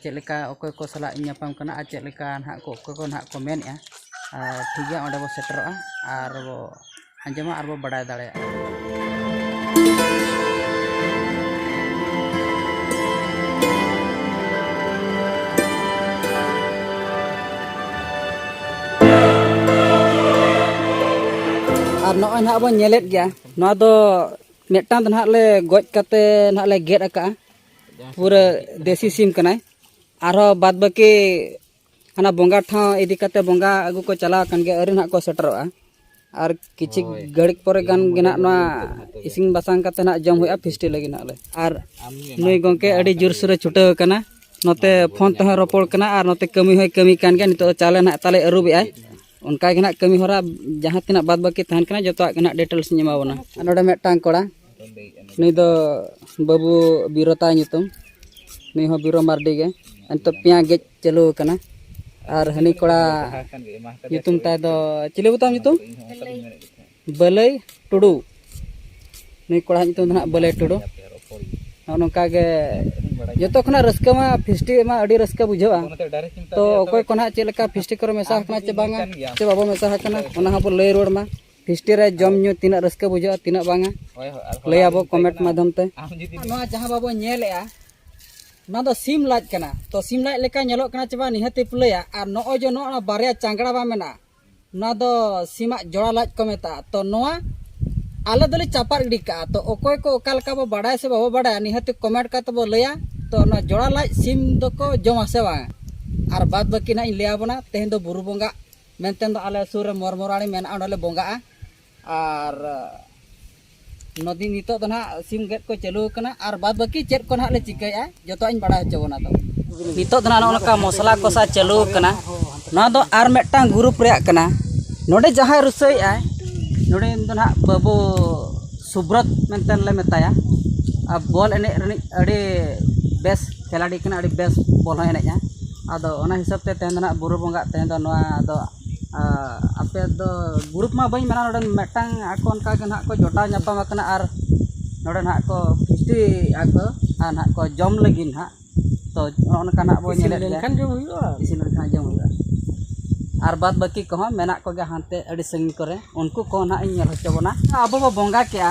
ᱪᱮᱫ ᱞᱮᱠᱟ ᱚᱠᱚᱭ ᱠᱚ ᱥᱟᱞᱟᱜ ᱤᱧ ᱧᱟᱯᱟᱢ ᱠᱟᱱᱟ ᱟᱨ ᱪᱮᱫ ᱞᱮᱠᱟ ᱱᱟᱦᱟᱜ ᱠᱚ ᱚᱠᱚᱭ ᱠᱚ ᱱᱟᱦᱟᱜ ᱠᱚ ᱢᱮᱱᱮᱜᱼᱟ ᱟᱨ ᱴᱷᱤᱠ ᱜᱮᱭᱟ ᱚᱸᱰᱮ ᱵᱚᱱ ᱥᱮᱴᱮᱨᱚᱜᱼᱟ ᱟᱨ ᱵᱚ ᱟᱸᱡᱚᱢᱟ ᱟᱨ ᱵᱚ ᱵᱟᱰᱟᱭ ᱫᱟᱲᱮᱭᱟᱜᱼᱟ ᱟᱨ ᱱᱚᱜᱼᱚᱭ ᱱᱟᱦᱟᱜ ᱵᱚᱱ ᱧᱮᱞᱮᱫ ᱜᱮᱭᱟ ᱱᱚᱣᱟ ᱫᱚ ᱢᱤᱫᱴᱟᱝ ᱫᱚ ᱱᱟᱦᱟᱜ ᱞᱮ ᱜᱚᱡ ᱠᱟᱛᱮ ᱱᱟᱦᱟᱜ ᱞᱮ ᱜᱮᱫ ᱟᱠᱟᱜᱼᱟ ᱯᱩᱨᱟᱹ ᱫᱮᱥᱤ ᱥᱤᱢ ᱠᱟᱱᱟᱭ ᱟᱨᱦᱚᱸ ᱵᱟᱫ ᱵᱟᱹᱠᱤ ᱦᱟᱱᱟ ᱵᱚᱸᱜᱟ ᱴᱷᱟᱶ ᱤᱫᱤ ᱠᱟᱛᱮ ᱵᱚᱸᱜᱟ ᱟᱹᱜᱩ ᱠᱚ ᱪᱟᱞᱟᱣ ᱟᱠᱟᱱ ᱜᱮᱭᱟ ᱟᱹᱣᱨᱤ ᱱᱟᱦᱟᱜ ᱠᱚ ᱥᱮᱴᱮᱨᱚᱜᱼᱟ ᱟᱨ ᱠᱤᱪᱷᱩ ᱜᱷᱟᱹᱲᱤᱡ ᱯᱚᱨᱮ ᱜᱟᱱ ᱜᱮ ᱱᱟᱦᱟᱜ ᱱᱚᱣᱟ ᱤᱥᱤᱱ ᱵᱟᱥᱟᱝ ᱠᱟᱛᱮ ᱱᱟᱦᱟᱜ ᱡᱚᱢ ᱦᱩᱭᱩᱜᱼᱟ ᱯᱷᱤᱥᱴᱤ ᱞᱟᱹᱜᱤᱫ ᱱᱟᱦᱟᱜ ᱞᱮ ᱟᱨ ᱱᱩᱭ ᱜᱚᱢᱠᱮ ᱟᱹᱰᱤ ᱡᱳᱨᱥᱳᱨᱮ ᱪᱷᱩᱴᱟᱹᱣ ᱟᱠᱟᱱᱟ ᱱᱚᱛᱮ ᱯᱷᱳᱱ ᱛᱮᱦᱚᱸ ᱨᱚᱯᱚᱲ ᱠᱟᱱᱟ ᱟᱨ ᱱᱚᱛᱮ ᱠᱟᱹᱢᱤ ᱦᱚᱸᱭ ᱠᱟᱹᱢᱤ ᱠᱟᱱ ᱜᱮᱭᱟ ᱱᱤᱛᱚᱜ ᱪᱟᱣᱞᱮ ᱱᱟᱦᱟᱜ ᱛᱟᱞᱮ ᱟᱹᱨᱩᱵᱮᱜᱼᱟᱭ ᱚᱱᱠᱟ ᱜᱮ ᱱᱟᱜ ᱠᱟᱹᱢᱤ ᱦᱚᱨᱟ ᱡᱟᱦᱟᱸ ᱛᱤᱱᱟᱹᱜ ᱵᱟᱫ ᱵᱟᱹᱠᱤ ᱛᱟᱦᱮᱱ ᱠᱟᱱᱟ ᱡᱚᱛᱚᱣᱟᱜ ᱜᱮ ᱱᱟᱜ ᱰᱤᱴᱮᱞᱥ ᱤᱧ ᱮᱢᱟ ᱵᱚᱱᱟ ᱟᱨ ᱱᱚᱰᱮ ᱢᱤᱫᱴᱟᱝ ᱠᱚᱲᱟ ᱱᱩᱭ ᱫᱚ ᱵᱟᱹᱵᱩ ᱵᱤᱨᱚ ᱛᱟᱭ ᱧᱩᱛᱩᱢ ᱱᱩᱭ ᱦᱚᱸ ᱵᱤᱨᱚ ᱢᱟᱨᱰᱤ ᱜᱮ ᱱᱤᱛᱚᱜ ᱯᱮᱸᱭᱟ ᱜᱮᱡ ᱪᱟᱹᱞᱩ ᱟᱠᱟᱱᱟ ᱟᱨ ᱦᱟᱹᱱᱤ ᱠᱚᱲᱟ ᱧᱩᱛᱩᱢ ᱛᱟᱭ ᱫᱚ ᱪᱤᱞᱤ ᱵᱚ ᱛᱟᱢ ᱧᱩᱛᱩᱢ ᱵᱟᱹᱞᱟᱹᱭ ᱴᱩᱰᱩ ᱱᱩᱭ ᱠᱚᱲᱟ ᱧᱩᱛᱩᱢ ᱫᱚ ᱦᱟᱸᱜ ᱵᱟᱹᱞᱟᱹᱭ ᱴᱩᱰᱩ ᱱᱚᱜᱼᱚ ᱱᱚᱝᱠᱟ ᱜᱮ ᱡᱚᱛᱚ ᱠᱷᱚᱱᱟᱜ ᱨᱟᱹᱥᱠᱟᱹ ᱢᱟ ᱯᱷᱤᱥᱴᱤ ᱢᱟ ᱟᱹᱰᱤ ᱨᱟᱹᱥᱠᱟᱹ ᱵᱩᱡᱷᱟᱹᱜᱼᱟ ᱛᱚ ᱚᱠᱚᱭ ᱠᱚ ᱱᱟᱦᱟᱜ ᱪᱮᱫ ᱞᱮᱠᱟ ᱯᱷᱤᱥᱴᱤ ᱠᱚᱨᱮ ᱢᱮᱥᱟ ᱟᱠᱟᱱᱟ ᱪᱮ ᱵᱟᱝᱟ ᱪᱮ ᱵᱟᱵᱚ ᱢᱮᱥᱟ ᱟᱠᱟᱱᱟ ᱚᱱᱟ ᱦᱚᱸᱵᱚ ᱞᱟᱹᱭ ᱨᱩᱣᱟᱹᱲ ᱢᱟ ᱯᱷᱤᱥᱴᱤ ᱨᱮ ᱡᱚᱢ ᱧᱩ ᱛᱤᱱᱟᱹᱜ ᱨᱟᱹᱥᱠᱟᱹ ᱵᱩᱡᱷᱟᱹᱜᱼᱟ ᱛᱤᱱᱟᱹᱜ ᱵᱟᱝᱟ ᱞᱟᱹᱭ ᱟᱵᱚ ᱠᱚᱢᱮᱱᱴ ᱢᱟᱫᱷᱚᱢ ᱛᱮ ᱱᱚᱣᱟ ᱡᱟᱦᱟᱸ ᱵᱟᱵᱚ ᱧᱮᱞᱮᱜᱼᱟ ᱱᱚᱣᱟ ᱫᱚ ᱥᱤᱢ ᱞᱟᱡ ᱠᱟᱱᱟ ᱛᱚ ᱥᱤᱢ ᱞᱟᱡ ᱞᱮᱠᱟ ᱧᱮᱞᱚᱜ ᱠᱟᱱᱟ ᱪᱮ ᱵᱟᱝ ᱱᱤᱦᱟᱹᱛᱤ ᱯᱞᱟᱹᱭᱟ ᱟᱨ ᱱᱚᱜᱼᱚᱭ ᱡᱮ ᱱᱚᱜᱼᱚ ᱵᱟᱨᱭᱟ ᱪᱟᱝᱜᱽᱲᱟ ᱵᱟᱝ ᱢᱮᱱᱟᱜᱼᱟ ᱱᱚᱣᱟ ᱫᱚ ᱥᱤᱢᱟᱜ ᱡᱚᱲᱟ ᱞᱟᱡ ᱠᱚ ᱢᱮᱛᱟᱜᱼᱟ ᱛᱚ ᱱᱚᱣᱟ ᱟᱞᱮ ᱫᱚᱞᱮ ᱪᱟᱯᱟᱫ ᱜᱤᱰᱤ ᱠᱟᱜᱼᱟ ᱛᱚ ᱚᱠᱚᱭ ᱠᱚ ᱚᱠᱟ ᱞᱮᱠᱟ ᱵᱚ ᱵᱟᱰᱟᱭᱟ ᱥᱮ ᱵᱟᱵᱚ ᱵᱟᱰᱟᱭᱟ ᱱᱤᱦᱟᱹᱛ ᱠᱚᱢᱮᱱᱴ ᱠᱟᱛᱮ ᱵᱚ ᱞᱟᱹᱭᱟ ᱛᱚ ᱱᱚᱣᱟ ᱡᱚᱲᱟ ᱞᱟᱡ ᱥᱤᱢ ᱫᱚᱠᱚ ᱡᱚᱢᱟ ᱥᱮ ᱵᱟᱝᱟ ᱟᱨ ᱵᱟᱫ ᱵᱟᱹᱠᱤ ᱱᱟᱜ ᱤᱧ ᱞᱟᱹᱭ ᱟᱵᱚᱱᱟ ᱛᱮᱦᱮᱧ ᱫᱚ ᱵᱩᱨᱩ ᱵᱚᱸᱜᱟ ᱢᱮᱱᱛᱮ ᱫᱚ ᱟᱞᱮ ᱥᱩᱨ ᱨᱮ ᱢᱚᱨᱢᱚᱨᱟᱲᱤ ᱢᱮᱱᱟᱜᱼᱟ ᱚᱸᱰᱮᱞᱮ ᱵᱚᱸᱜᱟᱜᱼᱟ ᱟᱨ ᱱᱚᱫᱤ ᱱᱤᱛᱚᱜ ᱫᱚ ᱱᱟᱦᱟᱜ ᱥᱤᱢ ᱜᱮᱫ ᱠᱚ ᱪᱟᱹᱞᱩ ᱟᱠᱟᱱᱟ ᱟᱨ ᱵᱟᱫ ᱵᱟᱹᱠᱤ ᱪᱮᱫ ᱠᱚ ᱱᱟᱦᱟᱜ ᱞᱮ ᱪᱤᱠᱟᱹᱭᱟ ᱡᱚᱛᱚᱣᱟᱜ ᱤᱧ ᱵᱟᱲᱟᱭ ᱦᱚᱪᱚ ᱵᱚᱱᱟ ᱛᱚ ᱱᱤᱛᱚᱜ ᱫᱚ ᱱᱟᱦᱟᱜ ᱱᱚᱜᱼᱚ ᱱᱚᱝᱠᱟ ᱢᱚᱥᱞᱟ ᱠᱚᱥᱟ ᱪᱟᱹᱞᱩ ᱟᱠᱟᱱᱟ ᱱᱚᱣᱟ ᱫᱚ ᱟᱨ ᱢᱤᱫᱴᱟᱝ ᱜᱨᱩᱯ ᱨᱮᱭᱟᱜ ᱠᱟᱱᱟ ᱱᱚᱰᱮ ᱡᱟᱦᱟᱸᱭ ᱨᱩᱥᱟᱹᱭᱮᱜᱼᱟᱭ ᱱᱚᱰᱮ ᱫᱚ ᱱᱟᱦᱟᱜ ᱵᱟᱹᱵᱩ ᱥᱩᱵᱨᱚᱛ ᱢᱮᱱᱛᱮ ᱞᱮ ᱢᱮᱛᱟᱭᱟ ᱟᱨ ᱵᱚᱞ ᱮᱱᱮᱡ ᱨᱤᱱᱤᱡ ᱟᱹᱰᱤ ᱵᱮᱥ ᱠᱷᱮᱞᱟᱲᱤ ᱠᱟᱱᱟᱭ ᱟᱹᱰᱤ ᱵᱮᱥ ᱵᱚᱞ ᱦᱚᱸᱭ ᱮᱱᱮᱡᱼᱟ ᱟᱫᱚ ᱚᱱᱟ ᱦᱤᱥᱟᱹᱵ ᱛᱮ ᱛᱮᱦᱮᱧ ᱫᱚ ᱦᱟᱸᱜ ᱵᱩᱨᱩ ᱵᱚᱸᱜᱟ ᱛᱮᱦᱮᱧ ᱫᱚ ᱱᱚᱣᱟ ᱫᱚ ᱟᱯᱮ ᱫᱚ ᱜᱨᱩᱯ ᱢᱟ ᱵᱟᱹᱧ ᱢᱮᱱᱟ ᱱᱚᱰᱮ ᱢᱤᱫᱴᱟᱝ ᱟᱠᱚ ᱚᱱᱠᱟ ᱜᱮ ᱦᱟᱸᱜ ᱠᱚ ᱡᱚᱴᱟᱣ ᱧᱟᱯᱟᱢ ᱠᱟᱱᱟ ᱟᱨ ᱱᱚᱰᱮ ᱦᱟᱸᱜ ᱠᱚ ᱯᱷᱩᱨᱛᱤᱭᱮᱜᱼᱟ ᱠᱚ ᱟᱨ ᱦᱟᱸᱜ ᱠᱚ ᱡᱚᱢ ᱞᱟᱹᱜᱤᱫ ᱦᱟᱸᱜ ᱛᱚ ᱱᱚᱜᱼᱚ ᱱᱚᱝᱠᱟ ᱦᱟᱸᱜ ᱵᱚᱱ ᱧᱮᱞᱮᱫ ᱜᱮᱭᱟ ᱤᱥᱤᱱ ᱞᱮᱱᱠᱷᱟᱱ ᱡᱚᱢ ᱦᱩᱭᱩᱜᱼᱟ ᱤᱥᱤᱱ ᱞᱮᱱᱠᱷᱟᱱ ᱡᱚᱢ ᱦᱩᱭᱩᱜᱼᱟ ᱟᱨ ᱵᱟᱫ ᱵᱟᱹᱠᱤ ᱠᱚᱦᱚᱸ ᱢᱮᱱᱟᱜ ᱠᱚᱜᱮᱭᱟ ᱦᱟᱱᱛᱮ ᱟᱹᱰᱤ ᱥᱟᱺᱜᱤᱧ ᱠᱚᱨᱮᱜ ᱩᱱᱠᱩ ᱠᱚ ᱦᱟᱸᱜ ᱤᱧ ᱧᱮᱞ ᱦᱚᱪᱚ ᱵᱚᱱᱟ ᱟᱵᱚ ᱵᱚᱱ ᱵᱚᱸᱜᱟ ᱠᱮᱜᱼᱟ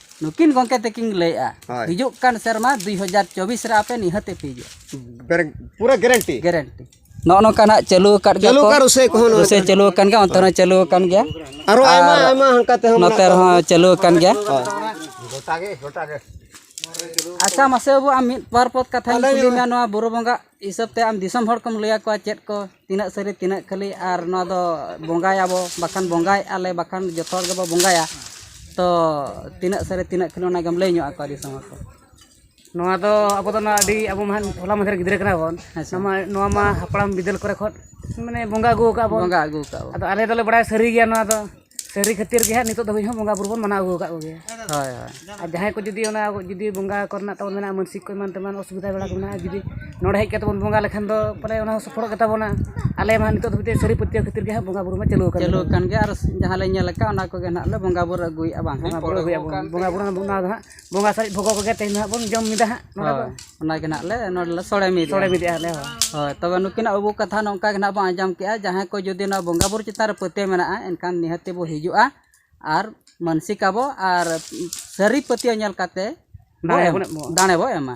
ᱱᱩᱠᱤᱱ ᱜᱚᱢᱠᱮ ᱛᱟᱹᱠᱤᱱ ᱞᱟᱹᱭᱮᱜᱼᱟ ᱦᱤᱡᱩᱜ ᱠᱟᱱ ᱥᱮᱨᱢᱟ ᱫᱩᱭ ᱦᱟᱡᱟᱨ ᱪᱚᱵᱵᱤᱥ ᱨᱮ ᱟᱯᱮ ᱱᱤᱦᱟᱹᱛ ᱯᱮ ᱦᱤᱡᱩᱜᱼᱟ ᱯᱩᱨᱟᱹ ᱜᱮᱨᱮᱱᱴᱤ ᱜᱮᱨᱮᱱᱴᱤ ᱱᱚᱜᱼᱚ ᱱᱚᱝᱠᱟ ᱱᱟᱜ ᱪᱟᱹᱞᱩ ᱟᱠᱟᱫ ᱜᱮᱭᱟ ᱪᱟᱹᱞᱩ ᱟᱠᱟᱫ ᱨᱩᱥᱟᱹᱭ ᱠᱚᱦᱚᱸ ᱨᱩᱥᱟᱹᱭ ᱪᱟᱹᱞᱩ ᱟᱠᱟᱱ ᱜᱮᱭᱟ ᱚᱱᱛᱮ ᱦᱚᱸ ᱪᱟᱹᱞᱩ ᱟᱠᱟᱱ ᱜᱮᱭᱟ ᱟᱨᱚ ᱟᱭᱢᱟ ᱟᱭᱢᱟ ᱦᱟᱱᱠᱟ ᱛᱮᱦᱚᱸ ᱱᱚᱛᱮ ᱨᱮᱦᱚᱸ ᱪᱟᱹᱞᱩ ᱟᱠᱟᱱ ᱜᱮᱭᱟ ᱜᱚᱴᱟ ᱜᱮ ᱜᱚᱴᱟ ᱜᱮ ᱟᱪᱪᱷᱟ ᱢᱟᱥᱮ ᱵᱟᱹᱵᱩ ᱟᱢ ᱢᱤᱫ ᱵᱟᱨ ᱯᱚᱫ ᱠᱟᱛᱷᱟᱧ ᱠᱩᱞᱤ ᱢᱮᱭᱟ ᱱᱚᱣᱟ ᱵᱩᱨᱩ ᱵᱚᱸᱜᱟ ᱦᱤᱥᱟᱹᱵ ᱛᱮ ᱟᱢ ᱫᱤᱥᱚᱢ ᱦᱚᱲ ᱠᱚᱢ ᱞᱟᱹᱭ ᱟᱠᱚᱣᱟ ᱪᱮᱫ ᱠᱚ ᱛᱤᱱᱟᱹᱜ ᱥᱟᱹᱨᱤ ᱛᱤᱱᱟᱹᱜ ᱠᱷᱟᱹᱞᱤ ᱟᱨ ᱱᱚᱣᱟ ᱫᱚ ᱵᱚᱸᱜᱟᱭᱟᱵᱚ ᱵᱟᱠᱷᱟᱱ ᱵᱚᱸᱜᱟᱭᱮᱜᱼᱟ ᱞᱮ ᱵᱟᱠᱷᱟᱱ ᱡᱚᱛᱚ ᱦᱚᱲ ᱜᱮᱵᱚᱱ ᱵᱚᱸᱜᱟᱭᱟ ᱛᱚ ᱛᱤᱱᱟᱹᱜ ᱥᱟᱹᱨᱤ ᱛᱤᱱᱟᱹᱜ ᱠᱷᱟᱹᱞᱤ ᱚᱱᱟᱜᱮᱢ ᱞᱟᱹᱭ ᱧᱚᱜ ᱟᱠᱚᱣᱟ ᱫᱤᱥᱚᱢ ᱦᱚᱲ ᱠᱚ ᱱᱚᱣᱟ ᱫᱚ ᱟᱵᱚ ᱫᱚ ᱱᱚᱣᱟ ᱟᱹᱰᱤ ᱟᱵᱚ ᱢᱟ ᱦᱚᱞᱟ ᱢᱟᱫᱷᱮᱨ ᱜᱤᱫᱽᱨᱟᱹ ᱠᱟᱱᱟ ᱵᱚᱱ ᱱᱚᱣᱟ ᱢᱟ ᱦᱟᱯᱲᱟᱢ ᱵᱤᱫᱟᱹᱞ ᱠᱚᱨᱮ ᱠᱷᱚᱱ ᱢᱟᱱᱮ ᱵᱚᱸᱜᱟ ᱟᱹᱜᱩ ᱠᱟᱜᱼᱟ ᱵᱚᱱ ᱵᱚᱸᱜᱟ ᱟᱹᱜᱩ ᱠᱟᱜᱼᱟ ᱵᱚᱱ ᱟᱫᱚ ᱟᱞᱮ ᱫᱚᱞᱮ ᱵᱟᱲᱟᱭᱟ ᱥᱟᱹᱨᱤ ᱜᱮᱭᱟ ᱱᱚᱣᱟ ᱫᱚ ᱥᱟᱹᱨᱤ ᱠᱷᱟᱹᱛᱤᱨ ᱜᱮ ᱦᱟᱸᱜ ᱱᱤᱛᱚᱜ ᱫᱷᱟᱹᱵᱤᱡ ᱦᱚᱸ ᱵᱚᱸᱜᱟ ᱵᱩᱨᱩ ᱵᱚᱱ ᱢᱟᱱᱟᱣ ᱟᱹᱜᱩ ᱟᱠᱟᱫ ᱠᱚᱜᱮᱭᱟ ᱦᱳᱭ ᱦᱳᱭ ᱟᱨ ᱡᱟᱦᱟᱸᱭ ᱠᱚ ᱡᱩᱫᱤ ᱚᱱᱟ ᱡᱩᱫᱤ ᱵᱚᱸᱜᱟ ᱠᱚᱨᱮᱱᱟᱜ ᱛᱟᱵᱚᱱ ᱢᱮᱱᱟᱜᱼᱟ ᱢᱟᱹᱱᱥᱤᱠ ᱠᱚ ᱮᱢᱟᱱ ᱛᱮᱢᱟᱱ ᱚᱥᱩᱵᱤᱫᱷᱟ ᱵᱟᱲᱟ ᱠᱚ ᱢᱮᱱᱟᱜᱼᱟ ᱡᱩᱫᱤ ᱱᱚᱰᱮ ᱦᱮᱡ ᱠᱟᱛᱮᱫ ᱵᱚᱱ ᱵᱚᱸᱜᱟ ᱞᱮᱠᱷᱟᱱ ᱫᱚ ᱯᱟᱞᱮ ᱚᱱᱟ ᱦᱚᱸ ᱥᱚᱯᱷᱚᱞᱚᱜ ᱜᱮᱛᱟ ᱵᱚᱱᱟ ᱟᱞᱮ ᱢᱟ ᱱᱤᱛᱚᱜ ᱫᱷᱟᱹᱵᱤᱡ ᱛᱮ ᱥᱟᱹᱨᱤ ᱯᱟᱹᱛᱭᱟᱹᱣ ᱠᱷᱟᱹᱛᱤᱨ ᱜᱮ ᱦᱟᱸᱜ ᱵᱚᱸᱜᱟ ᱵᱩᱨᱩ ᱢᱟ ᱪᱟᱹᱞᱩ ᱟᱠᱟᱱ ᱪᱟᱹᱞᱩ ᱟᱠᱟᱱ ᱜᱮᱭᱟ ᱟᱨ ᱡᱟᱦᱟᱸ ᱞᱮ ᱧᱮᱞ ᱟᱠᱟᱫ ᱚᱱᱟ ᱠᱚᱜᱮ ᱦᱟᱸᱜ ᱞᱮ ᱵᱚᱸᱜᱟ ᱵᱩᱨᱩ ᱟᱹᱜᱩᱭᱮᱫᱼᱟ ᱵᱟᱝ ᱵᱚᱸᱜᱟ ᱵᱩᱨᱩ ᱟᱹᱜᱩᱭᱮᱫᱼᱟ ᱵᱚᱱ ᱵᱚᱸᱜᱟ ᱵᱩᱨᱩ ᱚᱱᱟ ᱫᱚ ᱦᱟᱸᱜ ᱵᱚᱸᱜᱟ ᱥᱟᱨᱮᱡ ᱵᱷᱚᱜᱚ ᱠᱚᱜᱮ ᱛᱮᱦᱮᱧ ᱦᱟᱸᱜ ᱵᱚᱱ ᱡᱚᱢ ᱢᱤᱫᱟ ᱦᱟᱸᱜ ᱦᱳᱭ ᱚᱱᱟᱜᱮ ᱱᱟᱜ ᱞᱮ ᱱᱚᱰᱮ ᱞᱮ ᱥᱚᱲᱮ ᱢᱤᱫ ᱥᱚᱲᱮ ᱢᱤᱫᱮᱜᱼᱟ ᱞᱮ ᱦᱳᱭ ᱛᱚᱵᱮ ᱱᱩᱠᱤᱱᱟᱜ ᱟᱵᱚ ᱠᱟᱛᱷᱟ ᱱᱚᱝᱠᱟ ᱜᱮ ᱱᱟᱜ ᱵᱚᱱ ᱟᱸᱡᱚᱢ ᱠᱮᱜᱼᱟ ᱡᱟᱦᱟᱸᱭ ᱠᱚ ᱡᱩᱫᱤ ᱱᱚᱣᱟ ᱵᱚᱸᱜᱟ ᱵᱩᱨᱩ ᱪᱮᱛᱟᱱ ᱨᱮ ᱯᱟᱹᱛᱭᱟᱹᱣ ᱢᱮᱱᱟᱜᱼᱟ ᱮᱱᱠᱷᱟᱱ ᱱᱤᱦᱟᱹᱛ ᱵᱚ ᱦᱤᱡᱩᱜᱼᱟ ᱟᱨ ᱢᱟᱹᱱᱥᱤᱠ ᱟᱵᱚ ᱟᱨ ᱥᱟᱹᱨᱤ ᱯᱟᱹᱛᱭᱟᱹᱣ ᱧᱮᱞ ᱠᱟᱛᱮ ᱫᱟᱲᱮ ᱵᱚ ᱮᱢᱟ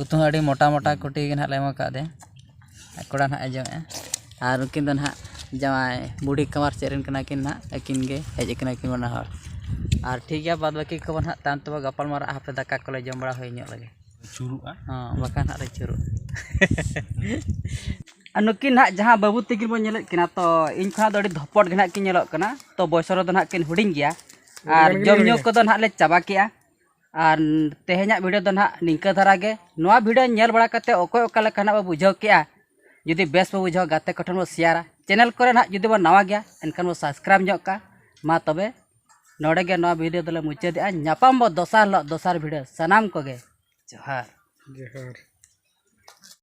ᱩᱛᱩ ᱦᱚᱸ ᱟᱹᱰᱤ ᱢᱚᱴᱟ ᱢᱚᱴᱟ ᱠᱩᱴᱤ ᱜᱮ ᱱᱟᱦᱟᱜ ᱞᱮ ᱮᱢ ᱠᱟᱣᱫᱮᱭᱟ ᱟᱨ ᱠᱚᱲᱟ ᱱᱟᱦᱟᱜ ᱮ ᱡᱚᱢᱮᱜᱼᱟ ᱟᱨ ᱩᱱᱠᱤᱱ ᱫᱚ ᱱᱟᱦᱟᱜ ᱡᱟᱶᱟᱭ ᱵᱩᱰᱷᱤ ᱠᱟᱢᱟᱨ ᱥᱮᱫ ᱨᱮᱱ ᱠᱟᱱᱟ ᱠᱤᱱ ᱱᱟᱦᱟᱜ ᱟᱹᱠᱤᱱ ᱜᱮ ᱦᱮᱡ ᱠᱟᱱᱟ ᱠᱤᱱ ᱵᱟᱱᱟ ᱦᱚᱲ ᱟᱨ ᱴᱷᱤᱠ ᱜᱮᱭᱟ ᱵᱟᱫ ᱵᱟᱹᱠᱤ ᱠᱚᱵᱚᱱ ᱱᱟᱦᱟᱜ ᱛᱟᱭᱚᱢ ᱛᱮᱵᱚᱱ ᱜᱟᱯᱟᱞ ᱢᱟᱨᱟᱜᱼᱟ ᱦᱟᱯᱮ ᱫᱟᱠᱟ ᱠᱚᱞᱮ ᱡᱚᱢ ᱵᱟᱲᱟ ᱦᱩᱭ ᱧᱚᱜ ᱞᱮᱜᱮ ᱟᱹᱪᱩᱨᱚᱜᱼᱟ ᱦᱚᱸ ᱵᱟᱠᱷᱟᱱ ᱱᱟᱦᱟᱜ ᱞᱮ ᱟᱹᱪᱩᱨᱚᱜᱼᱟ ᱟᱨ ᱱᱩᱠᱤᱱ ᱱᱟᱦᱟᱜ ᱡᱟᱦᱟᱸ ᱵᱟᱹᱵᱩ ᱛᱟᱹᱠᱤᱱ ᱵᱚᱱ ᱧᱮᱞᱮᱫ ᱠᱤᱱᱟ ᱛᱚ ᱤᱧ ᱠᱷᱚᱱᱟᱜ ᱫᱚ ᱟᱹᱰᱤ ᱫᱷᱚᱯᱚᱴ ᱜᱮ ᱱᱟᱦᱟᱜ ᱠᱤᱱ ᱧᱮᱞᱚᱜ ᱠᱟᱱᱟ ᱛᱚ ᱵᱚᱭᱚᱥ ᱨᱮᱫᱚ ᱱᱟᱦᱟᱜ ᱠᱤᱱ ᱦᱩᱰᱤᱧ ᱜᱮᱭᱟ ᱟᱨ ᱡᱚᱢ ᱧᱩ ᱠᱚᱫᱚ ᱱᱟᱦᱟᱜ ᱞᱮ ᱪᱟᱵᱟ ᱠᱮᱜᱼᱟ ᱟᱨ ᱛᱮᱦᱮᱧᱟᱜ ᱵᱷᱤᱰᱤᱭᱳ ᱫᱚ ᱱᱟᱦᱟᱜ ᱱᱤᱝᱠᱟᱹ ᱫᱷᱟᱨᱟ ᱜᱮ ᱱᱚᱣᱟ ᱵᱷᱤᱰᱤᱭᱳ ᱧᱮᱞ ᱵᱟᱲᱟ ᱠᱟᱛᱮ ᱚᱠᱚᱭ ᱚᱠᱟ ᱞᱮᱠᱟ ᱱᱟᱦᱟᱜ ᱵᱚ ᱵᱩᱡᱷᱟᱹᱣ ᱠᱮᱜᱼᱟ ᱡᱩᱫᱤ ᱵᱮᱥ ᱵᱚ ᱵᱩᱡᱷᱟᱹᱣᱟ ᱜᱟᱛᱮ ᱠᱚᱴᱷᱮᱱ ᱵᱚ ᱥᱮᱭᱟᱨᱟ ᱪᱮᱱᱮᱞ ᱠᱚᱨᱮ ᱱᱟᱦᱟᱜ ᱡᱩᱫᱤ ᱵᱚᱱ ᱱᱟᱣᱟ ᱜᱮᱭᱟ ᱮᱱᱠᱷᱟᱱ ᱵᱚ ᱥᱟᱵᱥᱠᱨᱟᱭᱤᱵᱽ ᱧᱚᱜ ᱠᱟᱜᱼᱟ ᱢᱟ ᱛᱚᱵᱮ ᱱᱚᱰᱮ ᱜᱮ ᱱᱚᱣᱟ ᱵᱷᱤᱰᱤᱭᱳ ᱫᱚᱞᱮ ᱢᱩᱪᱟᱹᱫᱮᱜᱼᱟ ᱧᱟᱯᱟᱢ ᱵᱚ ᱫᱚᱥᱟᱨ ᱦᱤᱞᱳᱜ ᱫᱚᱥᱟᱨ ᱵᱷᱤᱰᱤᱭᱳ ᱥᱟᱱᱟᱢ ᱠᱚᱜᱮ ᱡᱚᱦᱟᱨ ᱡᱚᱦᱟᱨ